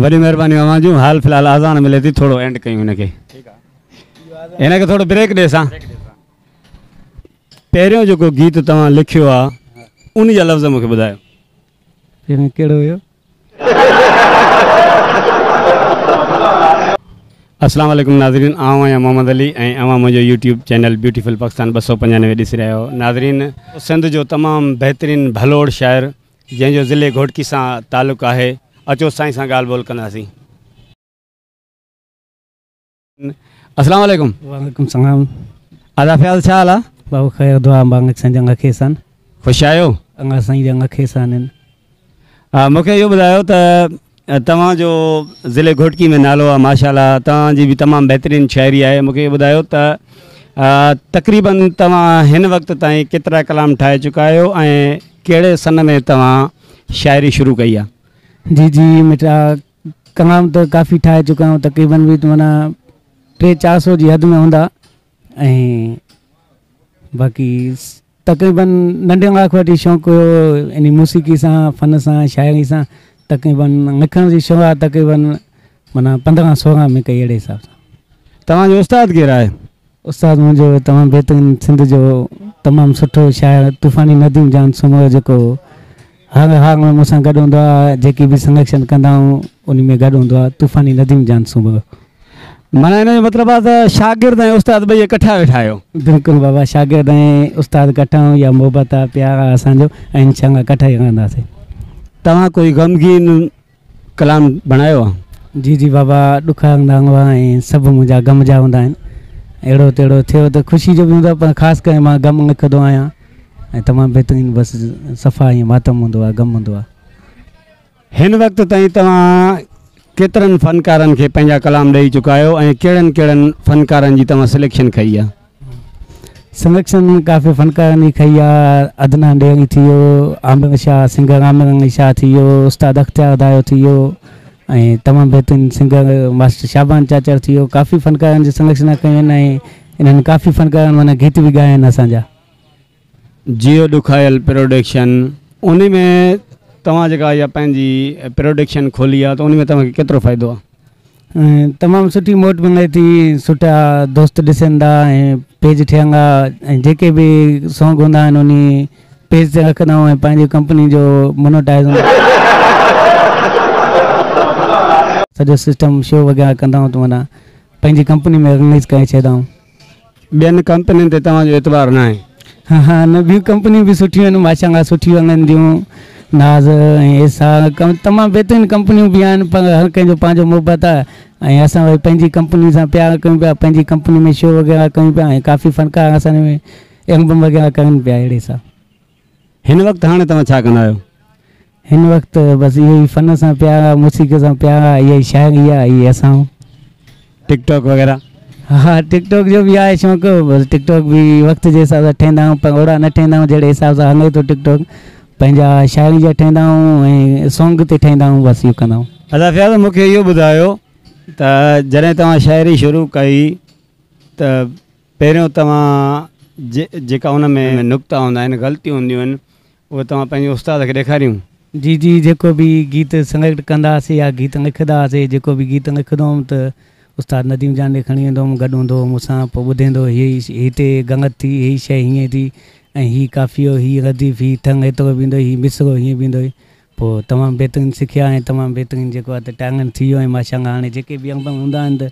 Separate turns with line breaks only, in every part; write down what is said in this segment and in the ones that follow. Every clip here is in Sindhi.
وڏي مهرباني اوهان جون حال في الحال آذان ملي ٿي ٿورو اينڊ ڪيون هن کي هن کي ٿورو بريڪ ڏي سان پهريون جيڪو گيت توهان لکيو آ ان جا لفظ مونکي ٻڌايو پهريون
ڪهڙو هيو
السلام عليڪم ناظرين آئون آهيان محمد علي ۽ اوهان منهنجو يوٽيوب چينل بيوٽيفل پاڪستان ٻه سؤ پنجانوي ڏسي رهيا آهيو ناظرين سنڌ جو تمام بهترين ڀلوڙ شاعر جنهن جو ضلعي گهوٽڪي سان تعلق آهي اچو سائين سان ڳالهه ٻولهه ڪنداسين. السلام عليڪم. وعليڪم السلام.
ادا فياض
ڇا حال آ. بابو خير دعا انب
انگ سائين جي انگ کيسان. خوش آهيو.
انگ سائين جي انگ
کيسان هن.
مونکي اهو ٻڌايو ته توهان جو ضلعي گهوٽڪي ۾ نالو آ ماشاءالله توهان جي به تمام بهترين شاعري آهي مون کي ٻڌايو ته تقريبا توهان هن وقت تائين ڪيترا ڪلام ٺاهي چڪا آهيو ۽ ڪهڙي سن ۾ توهان شاعري شروع ڪئي آ. جي جي مٽا
ڪلام ته ڪافي ٺاهي چڪا آهيون تقريبا به معنيٰ ٽي چار سو جي حد ۾ هوندا. ۽ باقي تقريبن ننڍي هوندي کان وٺي شوق هيو يعني موسيقي سان فن سان شاعري سان تقريبن لکڻ جي شروعات تقريبن مانا پندرهن سورهن ۾ ڪئي اهڙي حساب سان توهان جو استاد
ڪير آهي استاد منهنجو
تمام بهترين سنڌ جو تمام سٺو شاعر طوفاني نديم جان سومرو جيڪو هر هار ۾ مون سان گڏ هوندو آ، جيڪي به سنريکشن ڪندا آهيون انهي ۾ گڏ هوندو آ، طوفاني نديون جيان سونڀندو. معنيٰ
ان جو مطلب آ ته شاگرد ۽ استاد ٻئي ڪٺا ويٺا آهيو. بلڪل بابا شاگرد
۽ استاد ڪٺا آهيون اها محبت آ پيار آ اسان جو ۽ انشاء الله ڪٺا ئي رهنداسين. توهان ڪوئي
غمگين ڪلام بڻايو آ. جي جي بابا ڏک
هوندا هئا ۽ سڀ منهنجا غم جا هوندا آهن اهڙو تهڙو ٿيو ته خوشي جو به هوندو آهي پر خاص ڪري مان غم لکندو آهيان ۽ تمام بهترين بس صفا ائين ماتم هوندو آهي غم هوندو آهي.
هن وقت تائين توهان ڪيترن فنڪارن کي پنهنجا ڪلام ڏئي چڪا آهيو ۽ ڪهڙن ڪهڙن فنڪارن جي توهان سليڪشن ڪئي آهي؟
سنرکشن ڪافي فنڪارن جي کئي آ، عدنان ڏيري ٿي ويو، عامر شاهه سنگر عامر علي شاهه ٿي ويو، استاد اختيار دايو ٿي ويو ۽ تمام بهترين سنگر ماسٽر شعبان چاچڙ ٿي ويو ڪافي فنڪارن جي سنرکشنا ڪيون آهن ۽ انهن ڪافي فنڪارن معنيٰ گيت به ڳايا آهن اسان جا.
جيو ڏکايل پروڊڪشن انهي ۾ توهان جيڪا اها پنهنجي پروڊڪشن کولي آ ته انهي ۾ توهان کي ڪيترو فائدو آ؟ تمام سٺي موٽ
ملي ٿي سٺا دوست ڏسن ٿا ۽ پيج ٺهن ٿا ۽ جيڪي به سونگ هوندا آهن انهي پيج تي رکندا آهيون ۽ پنهنجي ڪمپني جو مونوٽائيز هوندو آهي سڄو سسٽم شو وغيره ڪندا آهيون ته معنيٰ پنهنجي ڪمپني ۾ رليز ڪري ڇڏيندا آهيون. ٻين
ڪمپنين تي توهان جو اعتبار ناهي؟ ها نه ٻيون
ڪمپنيون به سٺيون آهن ماشاء الله سٺيون هلن ٿيون ناز ۽ ايسا تمام بهترين ڪمپنيون به آهن پر هر ڪنهن جو پنهنجو محبت آهي ۽ اسان وري پنهنجي ڪمپني سان پيار ڪيون پيا پنهنجي ڪمپني ۾ شو وغيره ڪيون پيا ۽ ڪافي فنڪار اسان ۾ ايلبم وغيره ڪرن پيا اهڙي سان هن
وقت هاڻي توهان ڇا ڪندا آهيو؟ هن وقت
بس اهو ئي فن سان پيار آ موسيقي سان پيار آ اها ئي شاعري آ اهي اسان. ٽڪ
ٽاڪ وغيره؟ ها ٽڪ
ٽاڪ جو به آهي شوق بس ٽڪ ٽاڪ به وقت جي حساب سان ٺهندا آهيون پر اوڙا نه ٺهندا آهيون جهڙي حساب سان هلي ٿو ٽڪ ٽاڪ پنهنجا شاعري جا ٺهندا آهيون ۽ سونگ تي ٺهندا آهيون بس اهو ڪندا آهيون. ادا فياض مونکي اهو
ٻڌايو ته جڏهن توهان شاعري شروع ڪئي ته پهريون توهان جي جيڪا ان ۾ نڪتا هوندا آهن غلطيون هونديون آهن اهي توهان پنهنجي استاد کي ڏيکاريون. جي جي جيڪو
به گيت سليڪٽ ڪنداسي يا گيت لکدا هاسي جيڪو به گيت لکندو هوم ته استاد نديم جان ڏي کڻي ويندو هوم گڏ هوندو هو مون سان پوء ٻڌيندو هو هي هتي گنگت ٿي هي شيء هيئن ٿي ۽ هي قافيو هي رديف هي ٿنگ هيترو بيهندوئي هي مصرعو هيئن بيهندوئي پوء تمام بهترين سکيا ۽ تمام بهترين جيڪو آهي ته ٽائيلنٽ ٿي ويو ۽ ماشاء الله هاڻي جيڪي به انگ هوندا آهن ته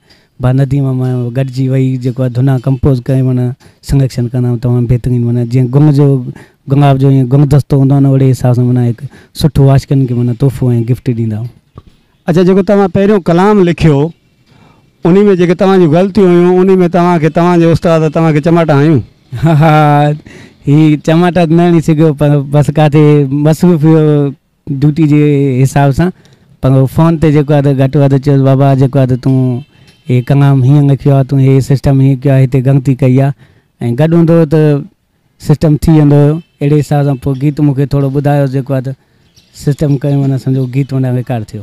با نديم مان گڏجي وئي جيڪو آهي ڌنا ڪمپوز ڪري معنيٰ سنگڪشن ڪندا آهيون تمام بهترين معنيٰ جيئن گنگ جو گنگاب جو ائين گنگ دستو هوندو آهي نه اهڙي حساب سان معنيٰ هڪ سٺو عاشقن کي معنيٰ تحفو ۽ گفٽ ڏيندا آهيون اچا جيڪو توهان
پهريون ڪلام لکيو انهي ۾ جيڪي توهان جون غلطيون هيون انهي ۾ توهان کي توهان جي استاد توهان کي چماٽا هنيون؟ ها ها
هي چماٽا ته نه هڻي سگهيو پر بس ڪاٿي مصروف هيو ڊيوٽي جي حساب سان پر فون تي جيڪو آهي گهٽ وڌ چيس بابا جيڪو آهي تون هي ڪلام هيئن لکيو آهي تون هي سسٽم هيئن ڪيو آهي هتي غلطي ڪئي آهي ۽ گڏ هوندو هو ته سسٽم ٿي ويندو هيو اهڙي حساب سان پوء گيت مون کي ٿورو ٻڌايو جيڪو آهي ته سسٽم ڪيو معنيٰ سمجهو گيت معنيٰ ريڪارڊ ٿيو.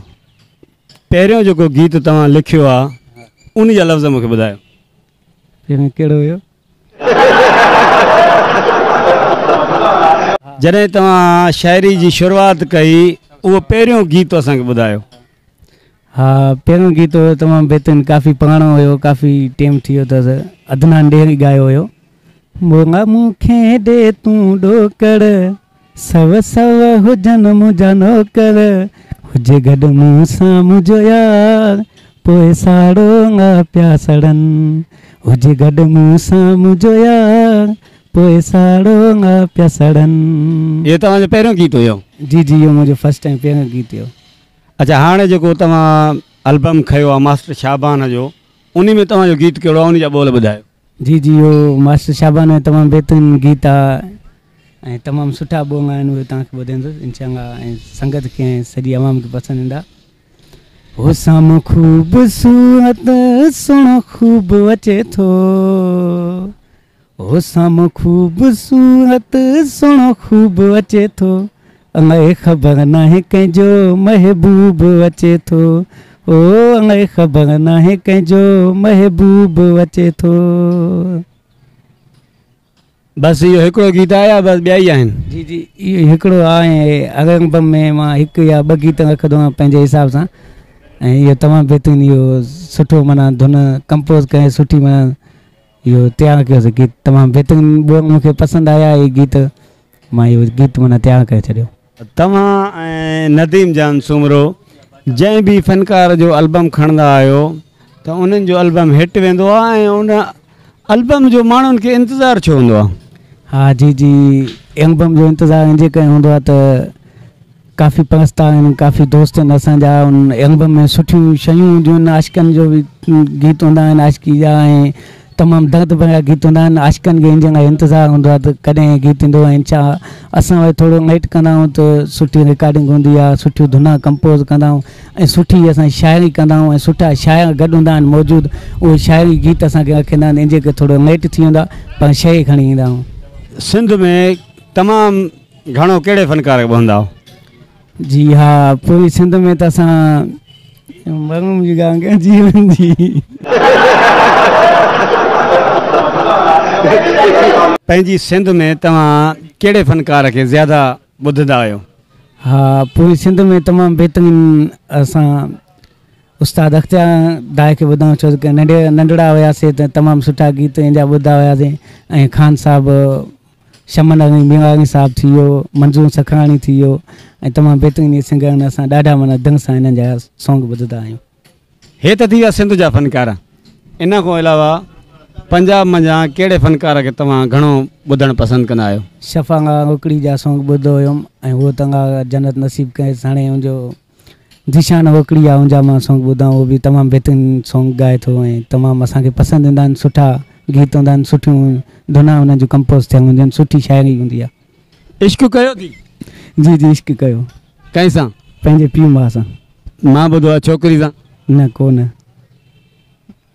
پهريون
جيڪو گيت توهان لکيو آ ان جا لفظ مون کي ٻڌايو. پهريون
ڪهڙو هيو؟
جڏهن توهان شاعري جي شروعات ڪئي اهو پهريون گيت اسان کي ٻڌايو ها
پهريون گيت هيو تمام بهترين ڪافي پراڻو هيو ڪافي ٽيم ٿي ويو اٿس عدنان ڏيري ڳايو هيو مولا مون کي ڏي تون ڏوڪڙ سو سو هجن منهنجا نوڪر هجي گڏ مون سان منهنجو يار پوء ساڙو نه پيا سڙن هجي گڏ مون سان منهنجو يار پوء ساڙو نه پيا سڙن اهو توهان جو پهريون گيت
هيو جي جي اهو منهنجو
فرسٽ ٽائيم پهريون گيت هيو. اڇا هاڻي
جيڪو توهان البم کنيو آ ماسٽر شعبان جو انهي ۾ توهان جو گيت ڪهڙو آ انهي جا ٻول ٻڌايو. جي جي اهو
ماسٽر شعبان جو تمام بهترين گيت آ ۽ تمام سٺا ٻول آهن اهي توهان کي ٻڌائيندس انشاء الله ۽ سنگت کي ۽ سڄي عوام کي پسند ايندا. هو سام خوبصورت سهڻو خوب اچي ٿو. حسام خوبصورت سهڻو خوب اچي ٿو الائي خبر ناهي ڪنهن جو محبوب اچي ٿو او الائي خبر ناهي ڪنهن جو محبوب اچي ٿو
بس اهو هڪڙو گيت آهي يا بس ٻيا ئي آهن جي جي اهو هڪڙو
آهي البم ۾ مان هڪ يا ٻه گيت رکندو آهيان پنهنجي حساب سان ۽ اهو تمام بهترين اهو سٺو معنيٰ ڌن ڪمپوز ڪري سٺي معنيٰ اهو تيار ڪيو سي گيت تمام بهترين ٻيو مون کي پسند آيا هي گيت مان اهو گيت معنيٰ تيار ڪري ڇڏيو. توهان ۽
نديم جان سومرو جنهن به فنڪار جو البم کڻندا آهيو ته انهن جو البم هٽ ويندو آهي ۽ ان البم جو ماڻهن کي انتظار ڇو هوندو آهي؟ ها جي جي
البم جو انتظار انجي ڪري هوندو آهي ته ڪافي پرست آهن ڪافي دوست آهن اسان جا ان البم ۾ سٺيون شيون هونديون آهن عاشقن جو به گيت هوندا آهن عاشقي جا ۽ تمام درد ڀريا گيت هوندا آهن عاشقن کي ان جي لاء انتظار هوندو آهي ته ڪڏهن هي گيت ايندو ۽ ڇا اسان وٽ ٿورو ويٽ ڪندا آهيون ته سٺي رڪارڊنگ هوندي آهي سٺيون ڌنا ڪمپوز ڪندا آهيون ۽ سٺي اسان شاعري ڪندا آهيون ۽ سٺا شاعر گڏ هوندا آهن موجود اهي شاعري گيت اسانکي رکندا آهن ان جي ڪري ٿورو ويٽ ٿي ويندو آهي پر شيء کڻي ايندا آهيون سنڌ ۾
تمام گهڻو ڪهڙي فنڪار کي ٻهندا آهو؟ جي ها پوري
سنڌ ۾ ته اسان مرون جي گان ڪيا جي ويندي.
پنهنجي سنڌ ۾ توهان ڪهڙي فنڪار کي زياده ٻڌندا آهيو؟ ها
پوري سنڌ ۾ تمام بهترين اسان استاد اختيار دائي کي ٻڌا آهيون ڇو ته ننڍڙا هياسي ته تمام سٺا گيت ان جا ٻڌا هياسي ۽ خان صاحب شمن ارني ميواڻي صاحب ٿي ويو، منظور سکراڻي ٿي ويو ۽ تمام بهترين اهي سنگر آهن اسان ڏاڍا معنيٰ دنگ سان انهن جا سانگ ٻڌدا آهيون. هي ته ٿي
ويا سنڌ جا فنڪار ان کان علاوه پنجاب منجهان ڪهڙي فنڪار کي توهان گهڻو ٻڌڻ پسند ڪندا آهيو؟ شفا ڳاڙهوڪڙي
جا سانگ ٻڌو هيم ۽ هوء تنگ آ جنت نصيب ڪيس هاڻي ان جو ذيشان اوڪڙي يا اونجا مان سانگ ٻڌا آهن اهو به تمام بهترين سانگ ڳائي ٿو ۽ تمام اسان کي پسند ايندا آهن سٺا گيت هوندا آهن سٺيون ڌنا انهن جون ڪمپوز ٿيل هونديون آهن سٺي شاعري هوندي آهي عشق ڪيو ٿي؟
جي جي عشق
ڪيو. ڪنهن سان؟
پنهنجي پيء ماء
سان. مان ٻڌو آهي
ڇوڪري سان. نه ڪو نه.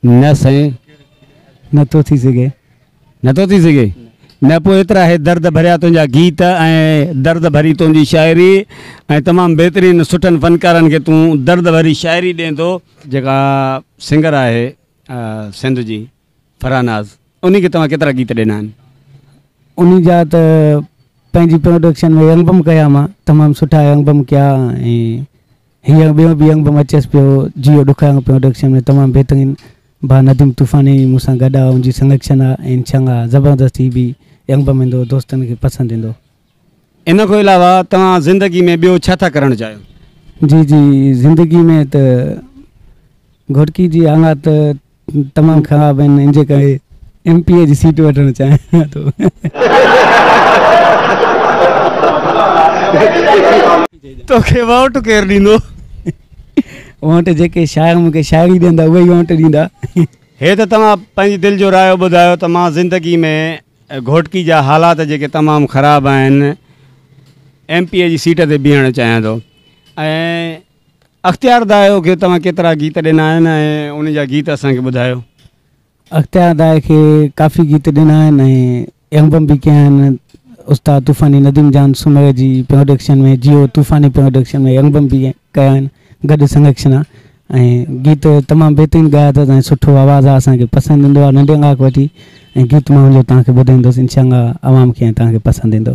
نه سائين نه ٿو
ٿي سگهي. نه ٿو ٿي سگهي؟
نه پوء ايترا هي درد ڀريا تنهنجا گيت ۽ درد ڀري تنهنجي شاعري ۽ تمام بهترين سٺن فنڪارن کي تون درد ڀري شاعري ڏين ٿو. جيڪا سنگر آهي سنڌ جي فرحان ناز انهي کي توهان ڪيترا گيت ڏنا آهن؟ انهي جا
ته پنهنجي پروڊڪشن ۾ البم ڪيا مان تمام سٺا البم ڪيا ۽ هي انگ ٻيو به انگ به مچيس پيو جيئو ڏک انگ پيون ڊڪشن ۾ تمام بهترين ڀا نديم طوفاني مون سان گڏ آ ان جي سنگڪشن آ ان شنگ آ زبردست هي به انگ به مھندو دوستن کي پسند ايندو. ان کان
علاوه توهان زندگي ۾ ٻيو ڇا ٿا ڪرڻ چاهيو؟ جي جي
زندگي ۾ ته گهوٽڪي جي آڱا ته. تمام خراب آهن ان جي ڪري ايم پي اي جي سيٽ وٺڻ چاهيان ٿو.
توکي ووٽ ڪير ڏيندو.
ووٽ جيڪي شاعر مون کي شاعري ڏيندا اهي ئي ووٽ ڏيندا. هي ته توهان
پنهنجي دل جو رايو ٻڌايو ته مان زندگي ۾ گهوٽڪي جا حالات جيڪي تمام خراب آهن ايم پي اي جي سيٽ تي بيهڻ چاهيان ٿو ۽ اختيار دائو کي توهان ڪيترا گيت ڏنا آهن ۽ انهن جا گيت اسان کي ٻڌايو. اختيار
دائو کي ڪافي گيت ڏنا آهن ۽ البم به ڪيا آهن استاد طوفاني نديم جان سومري جي پروڊڪشن ۾ جيو طوفاني پروڊڪشن ۾ البم به ڪيا آهن گڏ سنگڪشنا ۽ گيت تمام بهترين ڳايا اٿس ۽ سٺو آواز آهي اسان کي پسند ايندو آهي ننڍي ناڪ وٺي ۽ گيت مان وڃو توهان کي ٻڌائيندس انشاء الله عوام کي ۽ توهان کي
پسند
ايندو.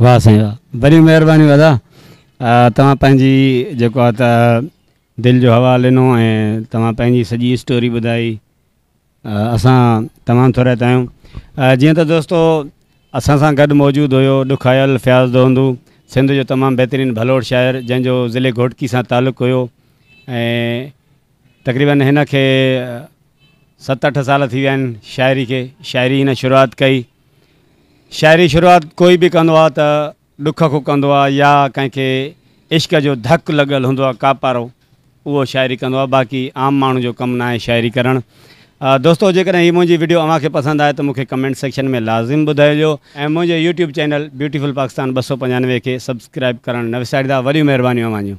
واه سائين واه بري مهرباني ادا توهان پنهنجي جيڪو آ ته دل جو حوال ڏنو ۽ توهان پنهنجي سڄي اسٽوري ٻڌائي اسان تمام ٿورائتا آهيون جيئن ته دوستو اسان سان گڏ موجود هيو ڏکايل فياض دهندو سنڌ جو تمام بهترين ڀلوڙ شاعر جنهن جو ضلعي گهوٽڪي سان تعلق هيو ۽ تقريبن هن کي ست اٺ سال ٿي ويا آهن شاعري کي شاعري هن شروعات ڪئي شاعري شروعات ڪوئي به ڪندو آهي ته ڏک کان ڪندو آهي يا ڪنهن کي عشق جو ڌڪ لڳل هوندو آهي ڪاپارو اهو شاعري ڪندو آهي باقي عام ماڻهو جو ڪم ناهي شاعري ڪرڻ دوستو جيڪڏهن هي منهنجي ويڊيو اوهان کي پسند آهي ته مونکي ڪمينٽ سيڪشن ۾ لازم ٻڌائجو ۽ منهنجي يوٽيوب چينل بيوٽيفل پاڪستان ٻه سؤ پنجانوي کي سبسڪرائب ڪرڻ نه وساريندا وڏيون مهربانيون اوهان جون.